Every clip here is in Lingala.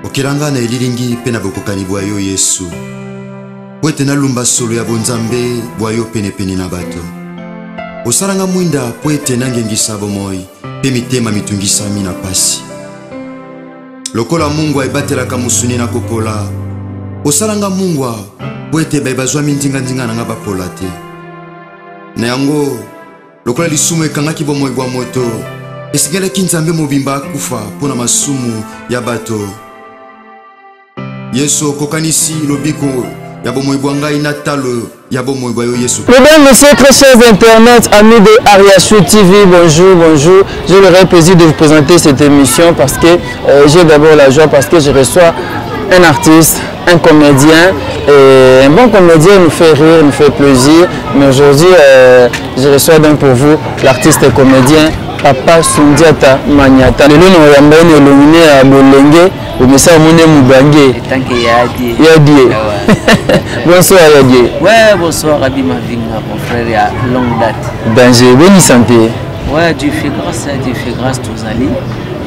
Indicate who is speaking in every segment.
Speaker 1: okela ngai na elilingi mpe na bokokani bwa yo yesu mpo ete nalumba solo ya bonzambe bwa yo penepene na bato osala ngai mwinda mpo ete nangengisa bomoi mpe mitema mitungisami na mpasi lokola mungwa ebatelaka mosuni na kopola osala ngai mungwa mpo ete baye bazwami nzinganzinga na ngai bapola te na yango Lokola lisumu ekangaki bomoi bwa moto, esengelaki Nzambe mobimba akufa mpo na masumu ya bato. Yesu okokanisi lobiko ya bomoi bwa ngai na talo ya bomoi bwa yo Yesu. Mesdames, Messieurs, très chers
Speaker 2: internet, amis de Ariachou TV, bonjour, bonjour. Je le plaisir de vous présenter cette émission parce que euh, j'ai d'abord la joie parce que je reçois un artiste un comedien et un bon comedien nous fait rire nous fait plaisir mais aujourd'hui euh, je reçois donc pour vous l'artiste et comedien papa sundiata maniata lelo na oyamba ye na elongi ne ya bolenge omesa omoni mobange yadie bonsoir yadie ouais bonsoir
Speaker 3: abi mavinga mon frère ya longue date danger boni
Speaker 2: santé ouais dieu fait
Speaker 3: grâce dieu fait grâce tozali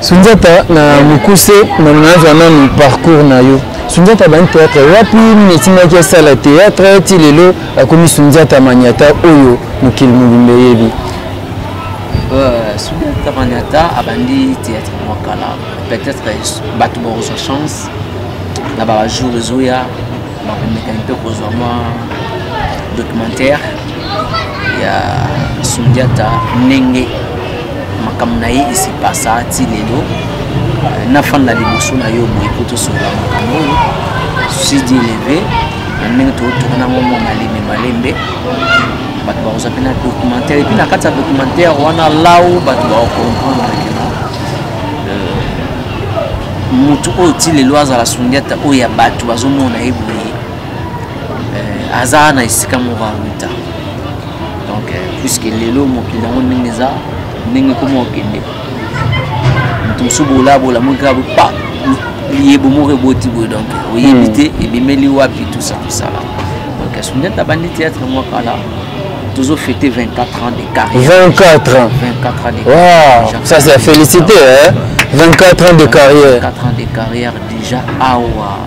Speaker 2: Sundiata na mukuse na nazwa nanu parcours na yo sundiata bani théâtre wapi nini etimaki asala théâtre ti lelo akomi sundiata maniata oyo mokili mobimba eyebi euh,
Speaker 3: sundiata maniata abandi théâtre mwa kala peut-être bato bakozwa chance na bajour ezoya nakomeka mpe kozwa mwa documentaire ya sundiata ndenge makambo na ye esipasa ti lelo euh, nafanda liboso na yo boye po tosolola makambo oyo sidi eleve na ndenge tootuna nango mwa malembe malembe bato bakozwa mpe na documentaire epuis na kati ya documentaire wana lau bato bakokomprendre motu oyo ti lelo azala sundiata oyo ya bato bazomona ye boye eh, aza na esika moko awuta donc eh, puiske lelo mokili yango ndenge eza ndenge ekoma okende moto mosusu bolabola moki kaka bopa liyebo moko eboti boye donc oyebi hmm. te ebimeli wapi tusa tosala donc sundiata abandi théâtre mwa kala tozo fete 24 ans de carrière 24 ans 24 ans de
Speaker 2: carrière wow, ça c'est à féliciter hein 24 ans de carrière 24 ans de carrière
Speaker 3: déjà awa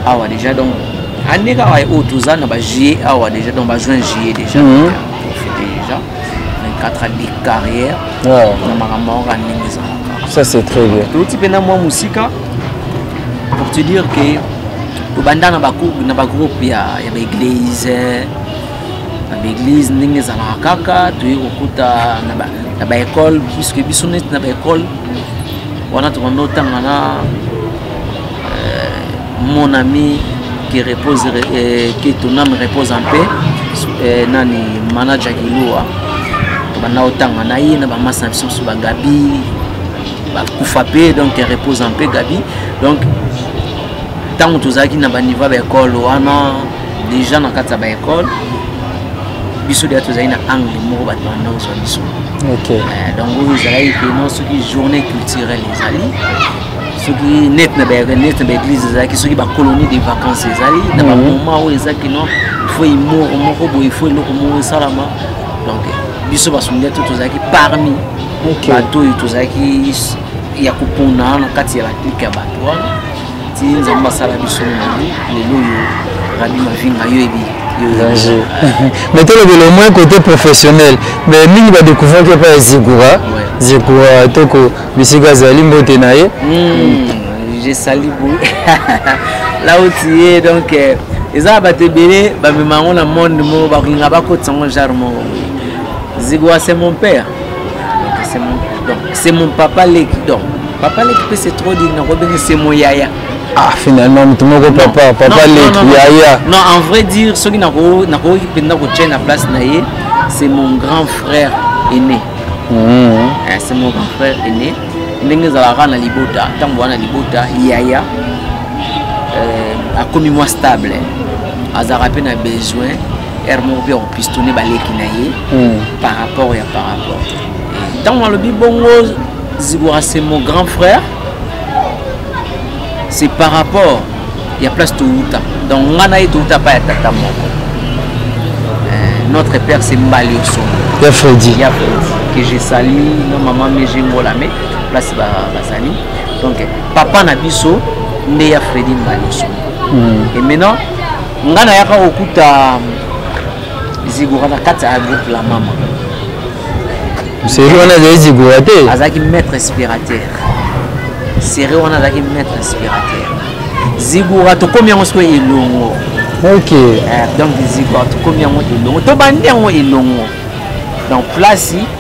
Speaker 3: awa déjà donc année kaka oyo oh, toza na ba juillet awa déjà donc ba juin juillet déjà mm -hmm. profite déjà 24 ans de carrière na makambo yango ka ndenge
Speaker 2: ezalaka ça c'est très bien touti mpe na mwa mosika
Speaker 3: pour te dire que tobanda na bagroupe ya baeglise na baeglise ndenge ezalaka kaka toye kokuta na baekole puiske biso neti na baekole wana tobanda otanga na euh, mon ami qui repose euh, que ton âme repose en paix euh, nani manager kilua tobanda otanga na ye na bamasi na biso mosusu bagabi bakufa mpe donc repose en paix gabi donc ntango tozalaki na baniveau ya baekole wana deja na kati ya baekole biso deja tozali na angle moko bato banda kozwa biso euh, donc oyo ezalaki peno soki journée culturelle ezali soki net na net na baeglise ezalaki soki bacolonie de vacances ezali na bamoment mhm. oyo eza kino faut imoro moko boye faut eloko moko esalama donc biso basongi to tozalaki parmi bato oyo tozalaki ya kopona na kati ya baklike ya bato wana ti nzambe asala biso nani lelo oyo rabi mavinga yo ebi danger
Speaker 2: mais tolobela au moins côté professionnel mais mingi badécouvraki epai ya zigura zigura toko bisika azali mbote na ye hmm, je
Speaker 3: sali bo là où tu es donc euh, eza bato ebele bamema yango na monde moko bakolinga bakotisa yango genre moko zigura c'est mon père c'est mon donc c'est mon papa leki donc papa leki mpe c'est trop dit nakobenge c'est mon yaya ah finalement
Speaker 2: moto moko papa papa leki yaya non en vrai dire
Speaker 3: soki nakoki mpenza kotya na place na ye c'est mon grand frère aîné hmm. eh, c'est mon grand frère aîné ndenge ezalaka na libota ntango wana libota yaya euh, akomi mwa stable azalaka mpe na besoin hermor bi akopistone baleki na ye hmm. par rapport ya par rapport ntango alobi bongo zigora c'est mon grand frère c'est par rapport ya place towuta donc nga na ye towuta pa ya tata moko euh, notre père c'est mbali osongo ya fredi ya
Speaker 2: fredi que je
Speaker 3: sali na mama meje ngola me place bazali donc papa na biso nde ya fredi mbali osongo hmm. et maintenant nga nayaka kokuta zigora na kati ya groupe la mama
Speaker 2: seri wana azali zigora te azalaki maître inspirateur
Speaker 3: seri wana azalaki maître inspirateur zigora tokomi yango sikoyo elongo ok eh,
Speaker 2: donc
Speaker 3: zigora tokomi yango elongo tobandi yango elongo donc place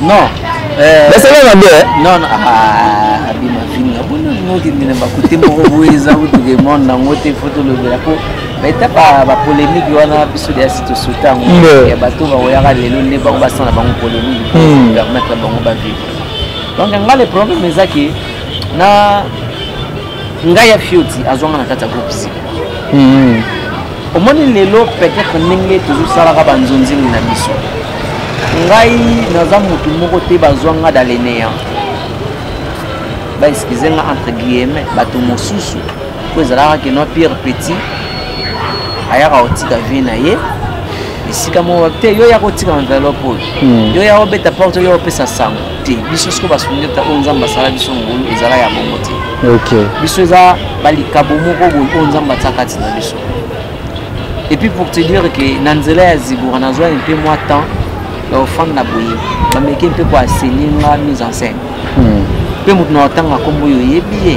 Speaker 2: Non. Euh,
Speaker 3: mais c'est là
Speaker 2: mabe. Hein? Non non. Ah,
Speaker 3: abima fini. Abona ngoki mina bakuti moko weza utuke mon na ngote foto lobela ko. Mais t'as pas ba polémique wana biso dia sito sotango. Ya bato ba oyaka lelo nde bango basana bango polémique. Hmm. Permettre bango ba vivre. Donc nga le problème ezaki na ngai ya fioti azwanga na kati ya groupe sika hmm. omoni lelo peut-être ndenge tozosalaka banzonzeli na biso ngai naza motu moko te bazwa nga dans le néant baexcuse nga entre guillemets bato mosusu mpo ezalaka keno pierre petit ayaka kotika vie na ye esika moko te yo ya kotika enveloppe oyo hmm. yo ya kobeta porte yo opesa sango te biso siko basundeta oyo nzambe asala biso ngolu ezala ya bongo te okay. biso eza balikabo moko boye oyo nzambe atya kati na biso epuis pour te dire ke na nzela ya zibura nazwa mpe mwa temps ya ofanda na boye bameke mpe koaseni nga mise en scène mpe hmm. moto na otanga nkombo oyo oyebi ye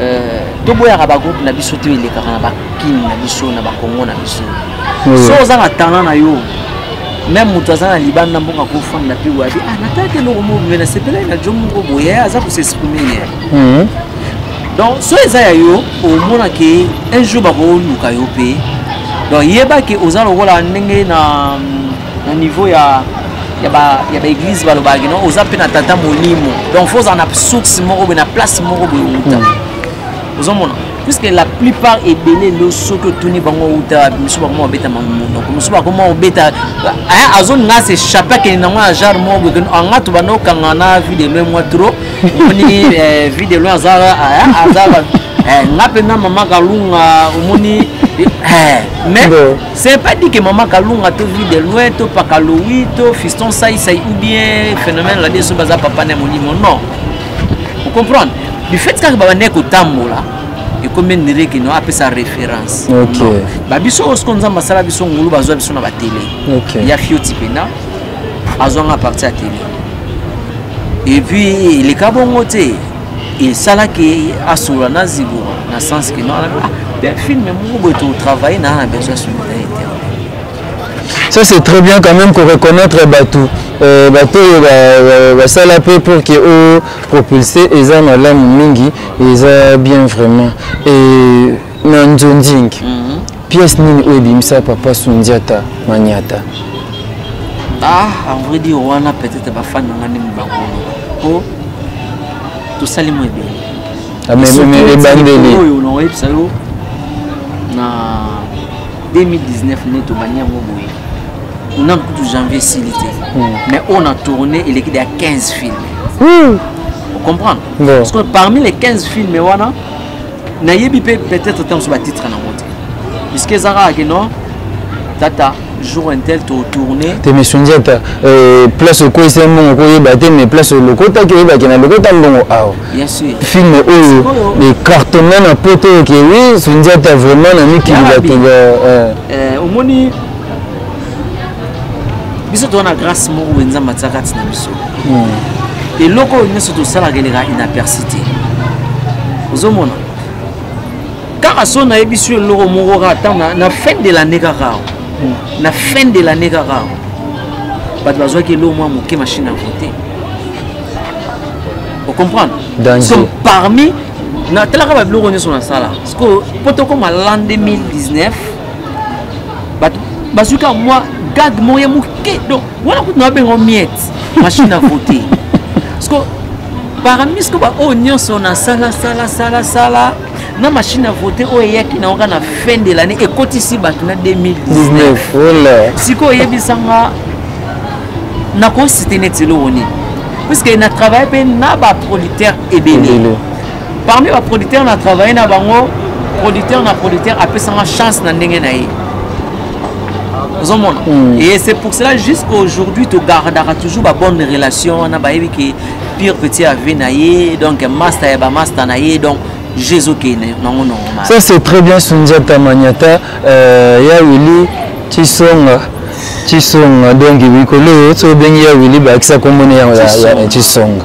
Speaker 3: Euh, toboyaka bagroupe na biso to elekaka na bakini na biso na bakongo na biso so oza na talent na yo meme moto aza na libanda mboka kofanda mpe wabi ah, natalaki eloko moko boye nasepelaki na jo moko boye aza kosexprime ye mhm. donc so eza ya yo omona ke un jour bakoluka yo mpe donc yeba ke oza lokola ndenge na na niveau ya ya ba ya ba église balobaka kino oza mpe na tata molimo donc faut ozala na source moko boye na place moko boye outa hmm. ozomona puisque la plupart ebele ndo soki otuni bango outa misu bakoma obeta monoko misu bakoma obeta eh, azolinga se chape akende nango na genre moko boye kino anga to banda okanga na vie de loin mwa trop omoni eh, vie de loin aza eh, aza nga mpenza mama kalunga omoni mais C'est pas dit que Maman Kalunga te vit de loin, to Pakaloui, to Fiston Saï Saï ou bien phénomène la déçu baza papa ne monimo. Non. Vous comprenez Du fait que baba ne ko tambola, et comme une règle qui n'a pas sa référence. Ok. Babiso os qu'on zamba sala biso ngulu bazo biso na ba télé. Ok. Il y a Fioti Pena, azonga partie à télé. Et puis les kabongote, esalaki asolola na zigora na sens ke ah, film moko boye totravaille na na besoin solidarité
Speaker 2: ça c'est très bien quand même koreconnaitre bato euh, bato oyo basala mpe pour ke o propulse eza malamu mingi eza bien vraiment et na nzonzing mhm. pièce nini oyo ebimisa papa sundiata maniata ah
Speaker 3: en vrai dire wana peut-être bafani na nga ndenge bakoloba po tosali mo ebele ah,
Speaker 2: ebandeli oyo nakoyebisa yo
Speaker 3: na 2019 nde tobandi yango boye na kutu janvier esili te hmm. mais oyo na tourne eleki deya 15 filme hmm. ocomprendre parmi les 15 filme wana nayebi mpe peut-être ntango mosusu batitre nango te puiske eza kaka ke non tata jour intel totourne te mission diata
Speaker 2: euh, place okweyisa ye mbongo koyeba te mais place olokotaki oyebaki na lokota mbongo awa film
Speaker 3: oyo
Speaker 2: ecartonne na poto oyo ke wi sondiata vraiment na mikili bato
Speaker 3: omoni biso toza na grâce moko boye nzambe atia kati na biso hmm. eloko oyo nyonso tosalaka eleka inaperci te ozomona kaka so nayebisi yo eloko moko kaka ntango na fin de l'année kaka hmm. na fin de l'année kaka bato bazwaki eloko mwa moke machine à voter ocomprendre sont parmi natalaka babiloko nyonso nasala sikoyo mpo tokoma l'an 2019 bato bazwi kaka mwa gag moye moke donc wana kutu nabengo miette machine à voter parce que parmi ce que baoyo oh, nyonso na sala sala sala sala na machine à voter oyo oh, eyaki na yoka na fin de l'année ekotisi bato na 2019 sikoyo oyebisanga nakosite neti eloko nini puisque na travaille mpe na baprolitaire ebele parmi ba producteur na travaille na bango producteur na producteur apesanga chance na ndenge na ye ozomona mm. et c'est pour cela jusqu'à aujourd'hui togardaka toujours babonne relation wana bayebi ke pire petit ave na ye donc master ya bamaster na ye donc jezokende nango normal ça c'est très bien
Speaker 2: sundiata maniata euh, ya wili tisonga tisonga donc likolo oyo soki obengi ya wili bakisa kombo na yango ya tisonga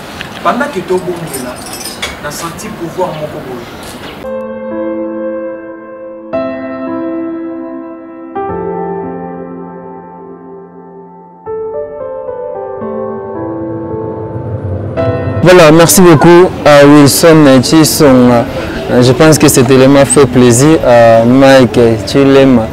Speaker 4: Pendant
Speaker 2: que tobongela, na senti pouvoir moko boye. Voilà, merci beaucoup à Wilson Chisong. Je pense que cet élément fait plaisir à Mike Chilema.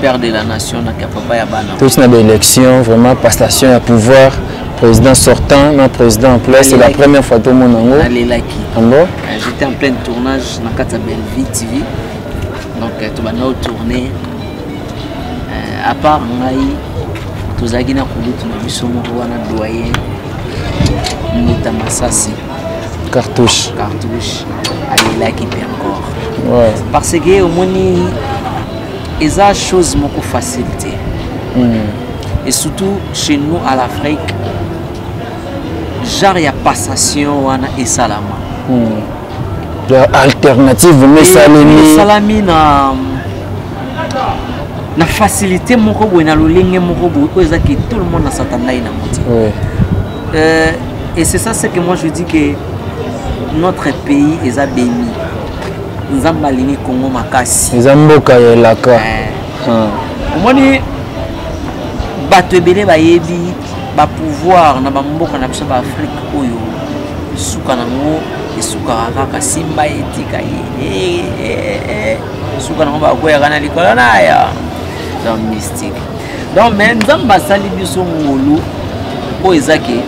Speaker 3: père de la nation na papa ya bana touti na baélection
Speaker 2: vraiment passation ya pouvoir président sortant na président en place c'est la première fois tomona yango nalelaki yango euh,
Speaker 3: j'étais en plein tournage na kati ya bellevie tv donc euh, tobanda otourne euh, à part ngai tozalaki na kulutu na biso moko wana doyen ndeta masasi cartouche
Speaker 2: cartouche
Speaker 3: alelaki mpe encore ouais. parce
Speaker 2: que omoni
Speaker 3: eza chose moko facile te mm. et surtout chez nous à l'afrique genre ya passation wana esalama mm. ya
Speaker 2: alternative mesalemi esalami na
Speaker 3: na facilité moko boye na lolenge moko boye oyo ezaki tout le monde asatandai na moti ouais. euh, et c'est ça ce que moi je dis que notre pays est à béni nzambe alingi congo makasi eza mboka ya elaka
Speaker 2: eh. ah.
Speaker 3: omoni bato ebele bayebi bapouvoir na bamboka na biso baafrike oyo suka nango esukaka kaka simba etika ye eh, eh, suka nango bakweyaka na likolo na ya dans mystique donc mais nzambe asali biso ngolu oyo eza ke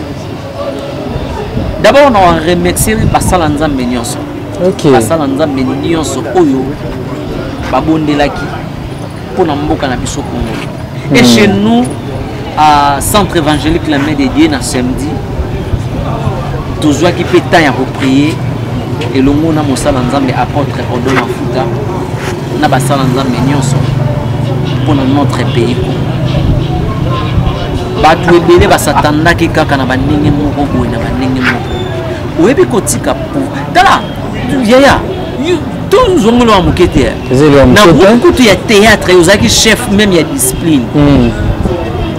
Speaker 3: d'abord na remercier basala nzambe nyonso okay. basala
Speaker 2: nzambe
Speaker 3: nyonso oyo babondelaki mpo na mboka na biso kongo hmm. et chez nous à centre évangélique la main de dieu na samedi tozwaki mpe temps ya koprie elongo na mosala nzambe apôtre odo mafuta na basala nzambe nyonso mpo na notre pays congo bato ebele basatandaki kaka na bandenge moko boye na bandenge moko oyebi kotika tala yaya tozongeli wa moke te na groupe kutu ya théâtre ozalaki chef meme ya discipline mm.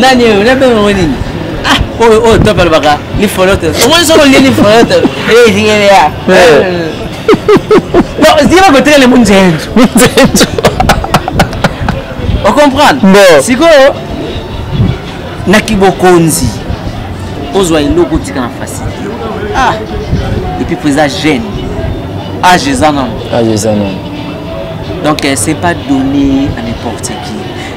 Speaker 3: nani oyo nabenga yango nini ah, oyo oyo top alobaka ni folote omoni soko olie ni folote ezingelea zika bakotekele munzenzo munzenzo ocomprendre sikoyo na kibokonzi ozwa eloko otika na fasi ah epuis mpo eza jeune age eza nano age eza nano
Speaker 2: donc
Speaker 3: euh, c'est pas donné à n'importe qui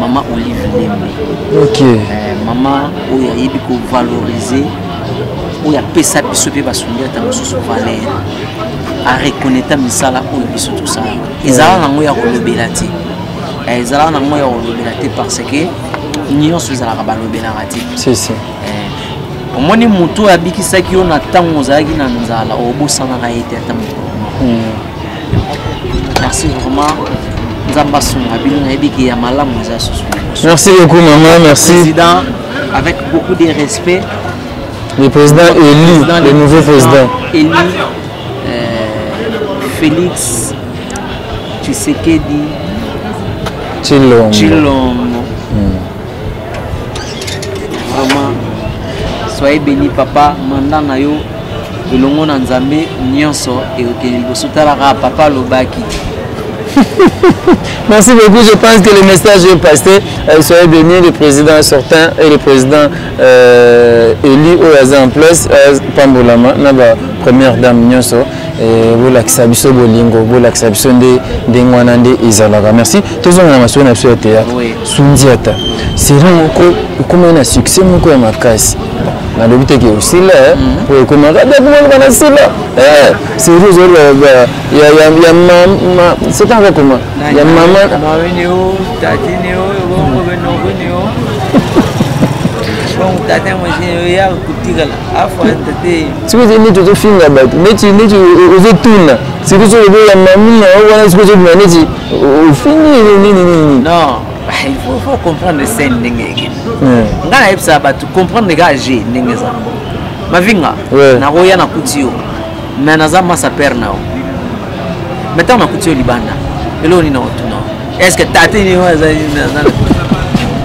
Speaker 3: Maman Olive Lembe. Ok. Euh,
Speaker 2: maman
Speaker 3: oyo ayebi ko valoriser oyo apesa biso mpe basungi ata mosusu valeur areconneta misala oyo biso tosalaka ezala nango ya kolobela te eh, ezala nango ya kolobela te parce que nyonso ezalaka balobelaka te eh, omoni motu oyo abikisaki yo na ntango ozalaki na nzala obosanaka ye te ata mokolo hmm. merci vraiment nzambe asunga bino nayebi ke ya malamu eza susu merci beaucoup
Speaker 2: maman merci président
Speaker 3: avec beaucoup de respect le
Speaker 2: président élu le nouveau président élu euh,
Speaker 3: félix tshisekedi tshilombo tshilombo vraiment soyez béni papa manda na yo elongo na nzambe nyonso ekokende liboso talaka papa alobaki
Speaker 2: Merci beaucoup. Je pense que le message est passé. Euh, soyez bénis, le président sortant et le président euh, élu au Yaza en place, euh, Pambolama, la première dame Nyoso. Eh, bolakisa biso bolingo bolakisa biso nde ndenge wana nde ezalaka merci tozonga na masolo na biso ya théâtre sundiata serie moko ekomaki na succès moko ya makasi nalobi teke osila eh? mhm. po ekomaka dakumaluka na sila eh, serie ozoloba ya mama seta nga koma ya mama
Speaker 3: sikoyo neti
Speaker 2: ozofinga bato neti neti ozotuna sikoyo soki oboya mamina wana sikoyo ozobima neti ofingi nini nini non
Speaker 3: il faut, faut comprendre scène ndenge eke nga nayebisaka bato comprendre kaka je ndenge eza mavinga nakoya nakuti yo mais naza masa père na yo mais ntango nakuti yo libanda eloko nini nakotuna est ce que tate nini oyo azali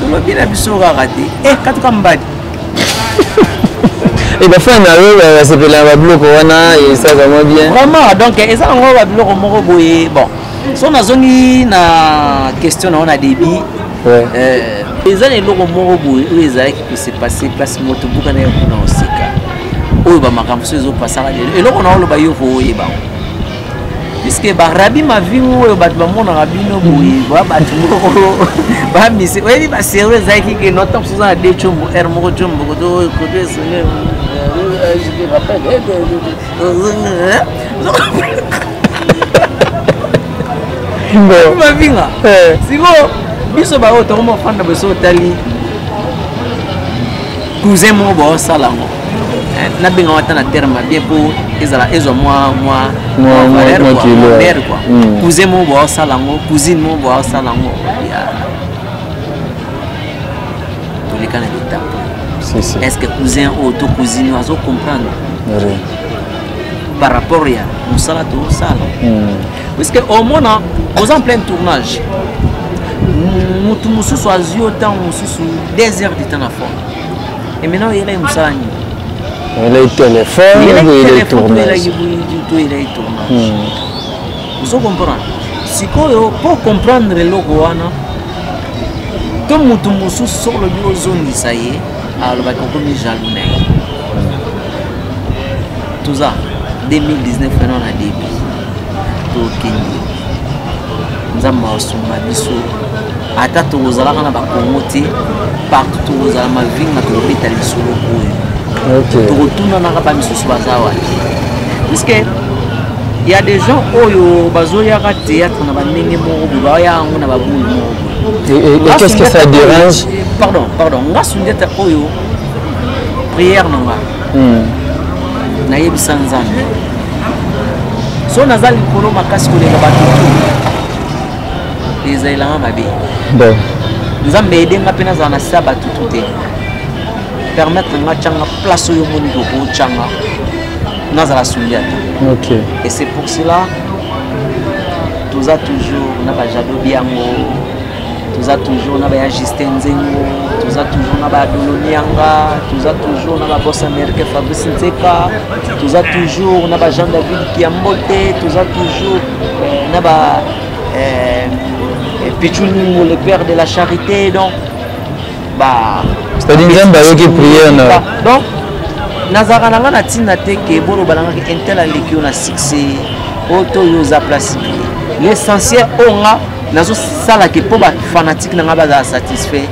Speaker 3: tolobi na biso kaka te e eh, katuka mbadi
Speaker 2: e eh, bafana na yo basepela na babiloko wana eza vraiment bien vraiment donc eza nango
Speaker 3: babiloko moko boye bon so nazongi na question na yo na débit eh, eza na eloko moko boye oyo ezalaki kosepasse place moto buka na yo kuna osika oyo bamakambo so ezopasaka lelo eloko na oloba yo kooyeba yango puisque barabi mavingo oyo bato bamonaka bino boye ba bato moko bamise oyebi baserve ezalaki ke nota mosusu na de combo r moko combo koto koto esone mavinga eh. sikoyo biso baoyo tokoma ofanda boso otali cousin moko baosala yango Eh, nabengaka ata na terme bien mpo ezala ezwa mwa mwa valeur kua hmm. cousin moko boa osala yango cousine moko boa osala yango toleka na bitapo est ce que cousin oyo to cousine oyo azo comprendre par rapport ya mosala tosala hmm. puisque omona oza en plein tournage motu mosusu azwi yo ntango mosusu 2 heures du temps na forme emena oyela ye mosala nini oyela ye
Speaker 2: telefone oyela ye tournage
Speaker 3: ozo comprendre sikoyo mpo comprendre eloko wana to motu mosusu soki olobi ozongisa ye alobaki okomi jaloux na ye toza 2019 wana na début tokende nzambe asunga biso ata tokozalaka na bakongo te partout tokozala mavinga tokobeta lisolo oyo
Speaker 2: tokotunanaka
Speaker 3: bamisusu baza wapi puiske ya des gens oyo bazoyaka théâtre na bandenge moko boye baoya yango na babulu moko qu'est-ce que ça
Speaker 2: dérange pardon pardon nga
Speaker 3: sundeta oyo prière na nga hmm. nayebisa nzambe so naza likolo makasi koleka bato ezalelanga mabe bon
Speaker 2: nzambe ede
Speaker 3: nga mpe nazala na sa batutu te permettre nga tyanga place oyo omoni kokotyanga nazala suli ata okay. et c'est
Speaker 2: pour cela
Speaker 3: toza toujours na bajado biango toza toujours na baya justin nzengo toza toujours na badolonianga toza toujours na babos américain fabrice nzeka toza toujours na bajean david kiambote toza toujours euh, na ba eh, eh, pichulungu le père de la charité donc ba c'est-à-dire nzambe
Speaker 2: ayoki prière na donc
Speaker 3: nazalaka na nga na ntina te ke boloba na nga ke intel aleki yo na succès oyo to yo oza place l'essentiel oyo nga nazosala ke mpo bafanatike na nga bazala satisfait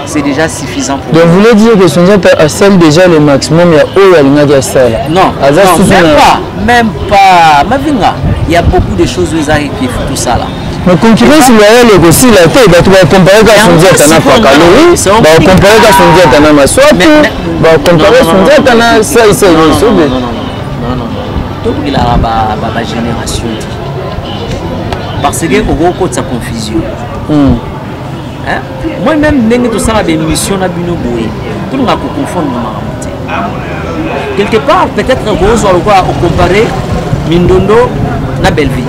Speaker 3: c'est déjà suffisant pour donc voulez dire que
Speaker 2: sonza asali déjà le maximum ya oyo alingaki asala non aza susu même
Speaker 3: pas même pas mavinga il y a beaucoup de choses oyo ezalaki kifu tosala mais concurrence
Speaker 2: loyale ekosila te bato bakompare ka sondiata na pakalo bakompare ka sondiata na maswapi bakompare sondiata na saisai nyonso be
Speaker 3: tobelaka bagénération te parce que okokotisa confusion hmm. moi même ndenge tosala baémission na bino boye tolingaka koconfondre makambo te quelque part peut-être okozwa lokola ocompare mindondo na bellevie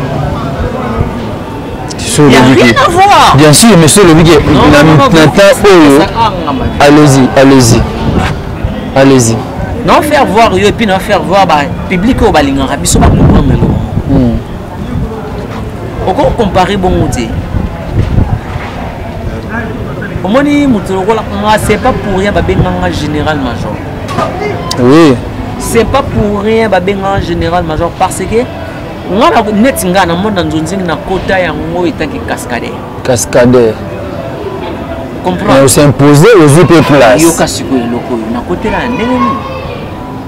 Speaker 3: bien sûr mais soki olobiki
Speaker 2: na temps oyo allez-y allez-y allez-y na faire
Speaker 3: voir yo epuis na faire voir bapublike oyo balingaka biso bacomprendre eloko oko compare bongo te omoni moto lokola nga c'est pas pour rien babenganga général major oui
Speaker 2: c'est pas
Speaker 3: pour rien babenganga général major parce que nga na neti nga na mona nzonzingi na kota yango etaki cascadaire cascadaire comprendre mais osimposer
Speaker 2: ozwi mpe place yoka sikoyo eloko
Speaker 3: oyo nakotela ya ndenge nini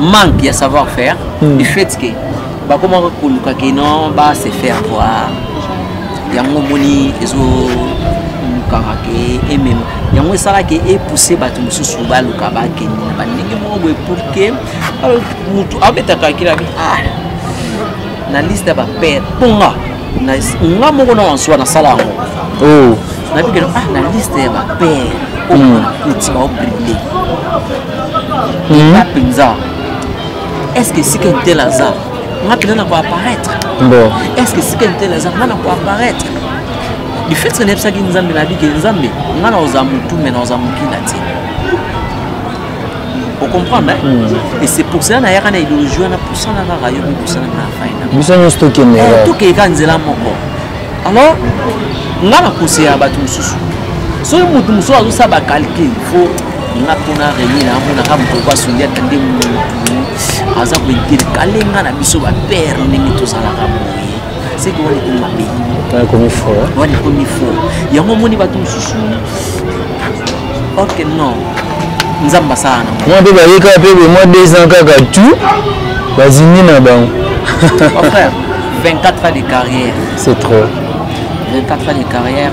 Speaker 3: manque ya savoir faire hmm. du fait que bakomaka koluka ke non ba se faire voir yango omoni ezolukaka ke emema yango esalaka epousse bato mosusu baluka bakende na bandenge moko boye pour ke motu abetaka kilabi ah, na liste ya bapere mponga nga moko na wansuwa nasala yango oh.
Speaker 2: nabikeno ah,
Speaker 3: na liste ya bapere oyo hmm. nakuti baobride nga mpenza est ce que esika entela aza nga mpenza na koapparaître est ce que
Speaker 2: esika entela
Speaker 3: aza nga na koapparaître du fait que nayebisaki nzambe nayebi ke nzambe nga na oza motu me na oza mokila te ocomprendre e c'est pour cela nayaka na idéologie wana pusana kaka yo mipusana na faina biso nyonso tokendeka
Speaker 2: tokeyeka nzela
Speaker 3: moko alors nga na kosela bato mosusu soki moto mosusu azosala bacalcule faut nga mpona remi na amonaka moto oyo asungi ata nde motu aza kointerkale nga na biso bapere ndenge tozalaka boye seke wana ekomi mabe wana
Speaker 2: ekomi fo
Speaker 3: yango omoni bato mosusu orke non nzambe asala na mwa mpe bayekaka mpe
Speaker 2: bemwa deux ans kaka tout bazindi na bango mon
Speaker 3: frère 24 ans de carrière c'est trop 24 ans de carrière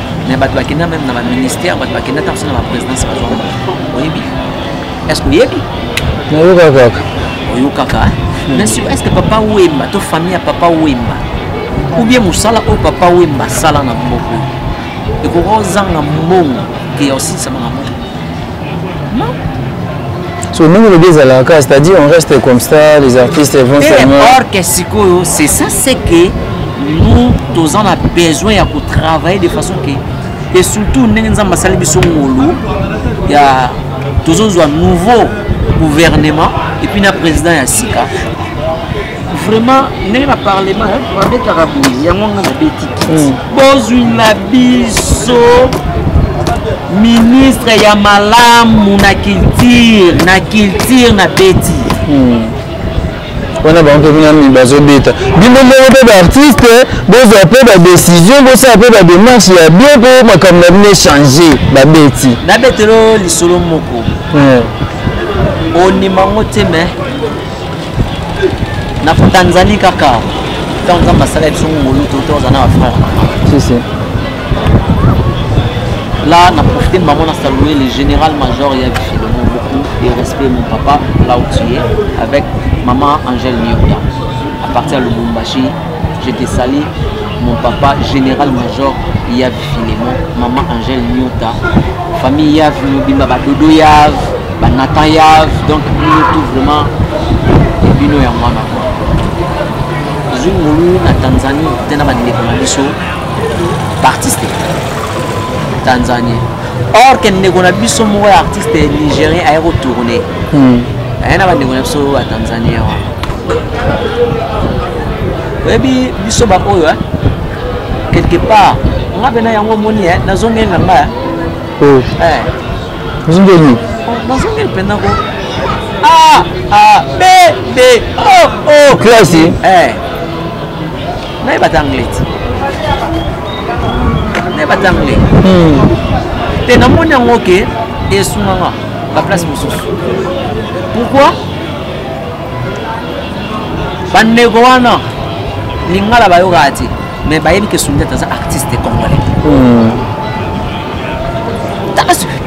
Speaker 3: mais bato bakenda meme na baministère bato bakenda ntango so na baprésidence bazwa mbongo oyebi est ce que oyebi nayoka kaka oyokaka hmm. mais sur est ce que papa wemba to famille ya papa wemba ou bien mosala oyo papa wemba asala na mboka ekoki kozanga mbongo ke ya osilisama na mboka so
Speaker 2: ndenge olobi ezalaka kaka c'est-à-dire on reste comme ça les artistes vont seulement or que sikoyo
Speaker 3: c'est ça c'est que nous toza na besoin ya kotravailler de façon que et surtout ndenge nzambe asali biso ngolu ya tozozwa nouveau gouvernement epuis na président ya sika vraiment ndenge na parlement babetaka boye yango nga nabeti hmm. bozwi na biso ministre ya malamu na culture na culture na beti hmm.
Speaker 2: wana bango mpe binami bazobeta bino ndenge mpe baartiste bozwa mpe badesizio bosala mpe bademarche ya bien mpo makambo na bino echange babeti nabetelo
Speaker 3: lisolo moko hmm. onima ngo te me na tanzanie kaka ntango nzambe asala biso ngolu to toza na bafrère si, si. là na profite de maman nasalouer le général major ya bifilemo beaucoup de respect mon papa là où tu es avec maman angèle mioda à partir ya lubumbashi je te sali mon papa général major ya Filemon, maman Angèle Nyota, famille Yav mobimba ba Dodo Yav, ba Nathan Yav, donc bino tout vraiment bino ya mwana kwa. Tozwi ngolu na Tanzanie te na bandeko na biso baartiste tanzanie or ke ndeko na biso moko ya artiste nigérien aye kotourne hmm. aye na bandeko na biso ya tanzanie wana oyebi biso baoyo eh? quelque part nga mpe na yango omoni eh, nazongeli na nga oh. eh.
Speaker 2: ozongeli oh, nazongeli
Speaker 3: mpenza ko a ah, a ah, b b o oh, o classe
Speaker 2: eh.
Speaker 3: nayebata anglais ti nayebata anglais hmm. te namoni yango ke esunga nga baplace mosusu pourquoi bandeko wana lingala bayokaka te mais bayebi ke sundiata aza artiste congolais hmm.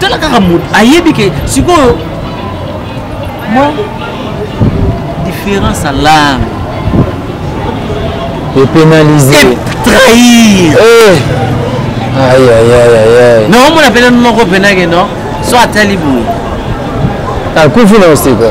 Speaker 3: tala kaka moto ayebi ke sikoyo mwa différence ya langue
Speaker 2: epénaliser trahir
Speaker 3: eh.
Speaker 2: na omona pene noko
Speaker 3: penake no so atali boye
Speaker 2: akufi na osika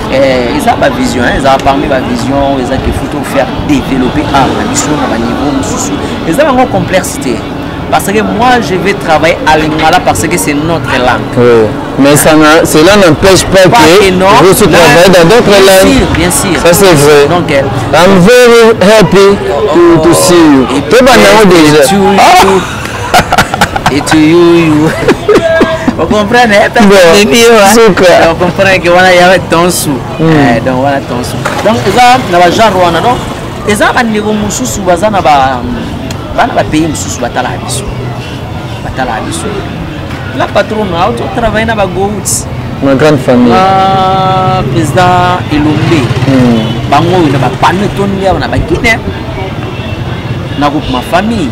Speaker 3: Eh, eza ba vision hein, eza parmi ba vision eza qu'il faut tout faire développer art na biso na ba niveau mosusu eza bango complexe te parce que moi je vais travailler à lingala parce que c'est notre langue oui. mais ça
Speaker 2: cela n'empêche pas, pas que, que non, vous se travaillez dans d'autres langues bien sûr, bien sûr ça c'est
Speaker 3: vrai donc
Speaker 2: euh, I'm
Speaker 3: very
Speaker 2: happy oh, to, to see you oh, et puis, déjà
Speaker 3: etuyuyu okomprendre eh, eh, okomprendre ke wana ya tonsu hmm. eh, donc wana tonsu donc eza na bagenre wana donc eza bandeko mosusu baza na bana bapays mosusu batalaka biso batalaka biso la patron na auto travaille na bagouts ma grande famille
Speaker 2: ah,
Speaker 3: président elombe hmm. bango oyo na bapano etondi awa na baguine na groupe ma famille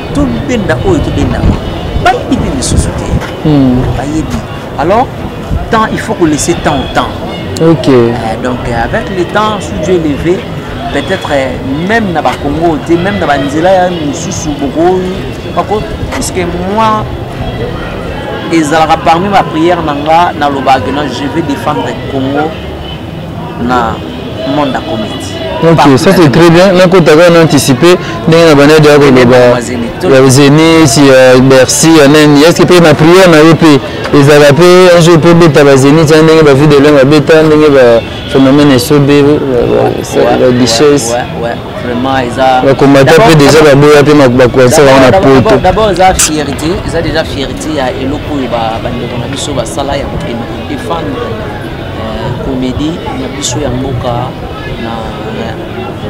Speaker 3: tobenda oyo tobendaka bayebi mpe misusu te hmm. bayebi alors temps il faut kolaisser temps au temps ok euh,
Speaker 2: donc euh,
Speaker 3: avec le temps sous dieu levé peut-être euh, même na bakongo te même na banzela ya misusu bokoyi bako puisque moi ezalaka parmi baprière na nga nalobaka na je vais défendre congo na monde ya comedi ok ça c'est très
Speaker 2: bien nakotaka na anticipe ndenge na banede ya koloba ya zenis ya bercy ya nani estce mpe na priere na yo mpe ezalaka mpe un jour mpe obeta bazenit ya ndenge bavie de leng babeta ndenge baphénomène esobe baguiches
Speaker 3: bakombata mpe déjà
Speaker 2: baboya mpe bakoansa bango na poto d'abord eza fierté
Speaker 3: eza déjà fierté ya eloko oyo bandeko na biso basala ya kokende kodefendre komedi na biso ya mboka na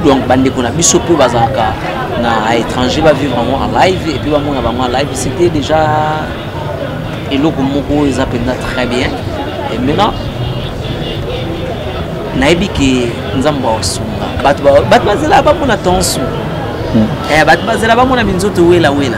Speaker 3: donc bandeko na biso mpe bazalaka na étranger bavivre yango en live et puis bamona bango en live c'était déjà eloko moko eza mpenza très bien et maintenant nayebi ke nzambe aosunga bato bazela bamona tension hmm. eh, bato bazela bamona minzoto wela wela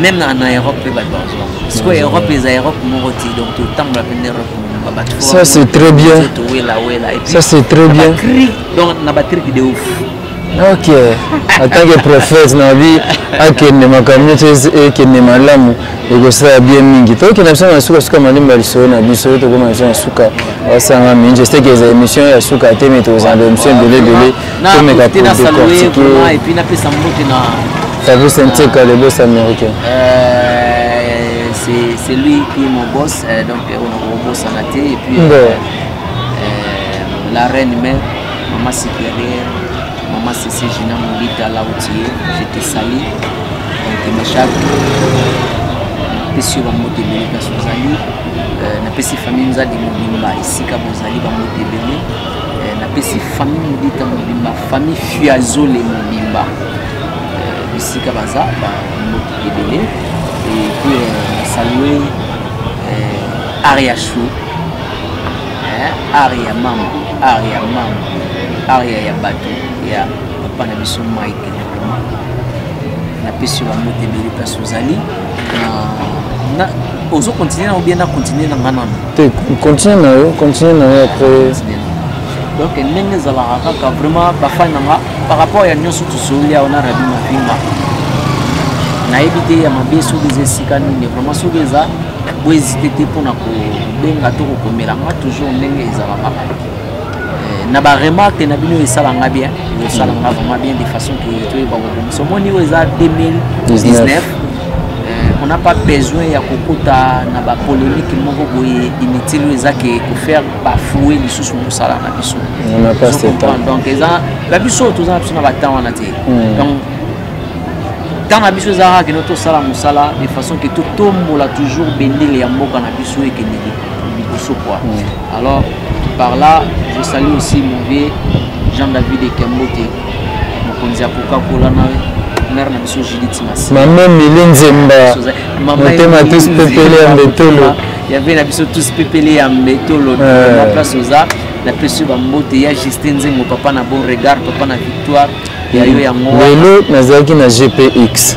Speaker 3: même na, na europe mpe bato bazwa sikoyo europe eza europe moko ti donc totambola mpe na europe mobimba bato ça c'est très
Speaker 2: bien towelawela ça c'est très bien donc na
Speaker 3: batrike de ouf ok
Speaker 2: en tant que prophète na bi akende makambo nyonso ekende malamu ekosala bien mingi tokokenda biso na suka suka malemba lisolo na biso tokoma biso na suka osanga mingi je sais que eza émission ya suka te mais tozala émission ebele ebele Na Tomeka profiter na pour saluer décortiquer. vraiment et puis
Speaker 3: na pesa mbote na Fabrice Nteka,
Speaker 2: le boss américain. Euh, c'est
Speaker 3: c'est lui qui est mon boss euh, donc euh, on on bosse en athée et puis Bon. euh, euh, la reine mère maman supérieure maman Cécile Gina Moulita là où tu es je te salue donc ma chaque napesi yo bambote ebele kasi ozali euh, napesi famille nzadi mobimba esika bozali bambote ebele eh, napesi famille modita mobimba famille fiazole mobimba eh, bisika baza bamboki ebele epuis eh, nasalue are ya chou are ya mama are ya mama are ya bato ya papa na biso mike napesi yo bambote ebele place ozali na ozo continuer na obien na continuer na nga nano te continuer
Speaker 2: na yo continuer na yo après donc
Speaker 3: ndenge ezalaka kaka vraiment bafani na nga par rapport ya nyonso tosolia ona rabi mafinga nayebi te ya mabe soki eza esika nini vraiment soki eza boezite te mpona kobenga to kokomela nga toujours ndenge ezalaka Eh, na baremarque na bino esala nga bien esala nga vraiment bien de façon que toyeba kobongisa omoni oyo eza 2019 eh, on n'a pas besoin ya kokota na bapolémique moko boye inutile oyo eza ke kofaire bafoue lisusu mosala na biso
Speaker 2: donc eza na
Speaker 3: biso toza na biso na batemp wana te hmm. donc temps na biso ezalaka kende tosala mosala de façon ke totombola toujours bendele ya mboka na biso ekende liboso kua hmm. Alors, par là, je salue aussi mon vieux Jean-David Ekembote, mokonzi ya Coca-Cola na mère na biso Judith Masi. Maman Mili Nzemba,
Speaker 2: motema tous pepele ya mbetolo. Ya vie na biso
Speaker 3: tous pepele ya mbetolo. Euh. Na place oza, na pesi ba mbote ya Justin Nzengo, papa na bon regard, papa na victoire. Ya yo yango. Lelo nazalaki na
Speaker 2: GPX.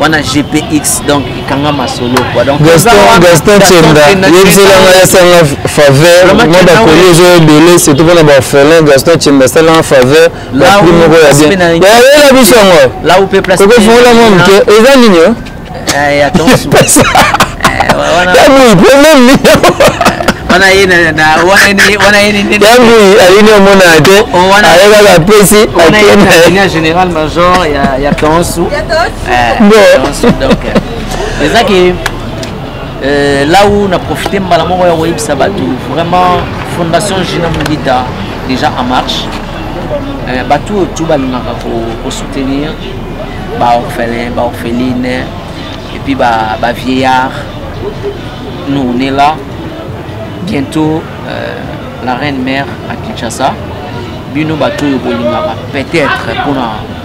Speaker 3: wana gpx donc ekanga masolo quoi donc gaston gaston tienda
Speaker 2: yebisela ngai asanga faveur mwa bakoli ezo ebele surtout mpona baorphelin gaston tienda asalanga faveur baprix moko ya bien yayela biso yango kokofungola
Speaker 3: mwa moke
Speaker 2: eza nini yo
Speaker 3: yabui
Speaker 2: problème nini wana
Speaker 3: ye wana ye nini yango
Speaker 2: ayini omona te ayebaka pesi en général
Speaker 3: major ya ya tonsu ezaki euh, là où na profite mbala moko ya koyebisa bato vraiment fondation gina mudita déjà en marche euh, bato oyo tu balingaka kosoutenir baorphelin baorpheline epuis bavieillard nous on est là bientôt euh, la reine mère à kinshasa bino bato oyo bolingaka peut-être mpona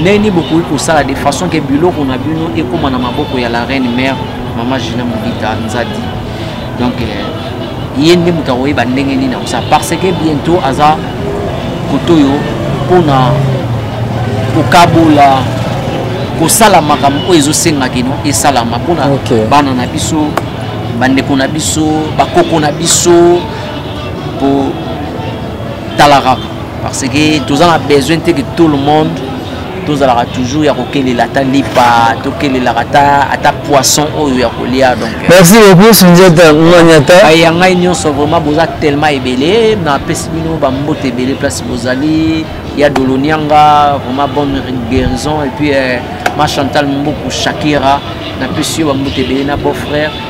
Speaker 3: ndenge nini bokoki kosala de façon ke biloko na bino ekóma na maboko ya la reine mère mama gina mobita nzadi donc euh, ye nde moto akoyeba ndenge nini akosala parce que bientôt aza koto oyo mpona kokabola kosala makambo oyo ezosenga kino esalama mpona okay. bana na biso bandeko na biso bakoko na biso kotalaka parce que toza na besoin te que tout le monde tozalaka toujours ya kokelela ata lipa tokelelaka ata ata poisson oyo ya kolia donc euh, merci beaucoup sunjata
Speaker 2: maniata baye ya ngai nyonso
Speaker 3: vraiment boza tellement ebele napesi bino bambote ebele place bozali ya dolonianga vraiment bonne guérison et puis euh, ma chantal mboku shakira napesi yo bambote ebele na beau frère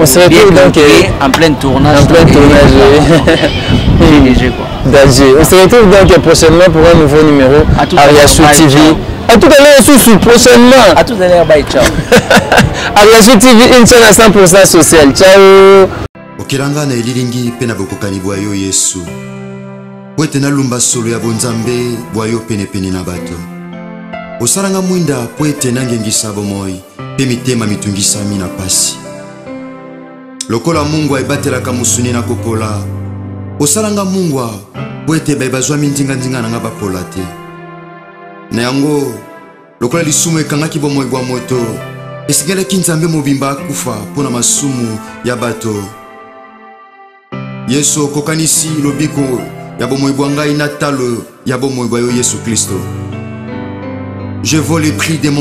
Speaker 2: On se retrouve donc euh, en plein tournage.
Speaker 3: En plein tournage,
Speaker 2: oui. Danger. On se retrouve donc prochainement pour un nouveau numéro à Ariachou TV. À tout à l'heure, sous prochainement. À tout à l'heure, bye, ciao.
Speaker 3: Ariachou
Speaker 2: TV, une chaîne à 100% sociale. Ciao. okelanga na
Speaker 1: elilingi mpe na bokokani bwa yo yesu mpo ete nalumba solo ya bonzambe bwa yo penepene na bato osalanga mwinda mpo ete nangengisa bomoi mpe mitema mitungisami na mpasi. Lokola mungwa ebatelaka mosuni na kopola, osala nga mungwa mpo ete baye bazwami nzinganzinga na nga bapola te. Na yango, lokola lisumu ekangaki bomoi bwa moto, esengelaki Nzambe mobimba akufa mpo na masumu ya bato. Yesu, okokanisi lobiko ya bomoi bwa ngai na talo ya bomoi bwa yo Yesu Klisto. Je vaux le prix de mon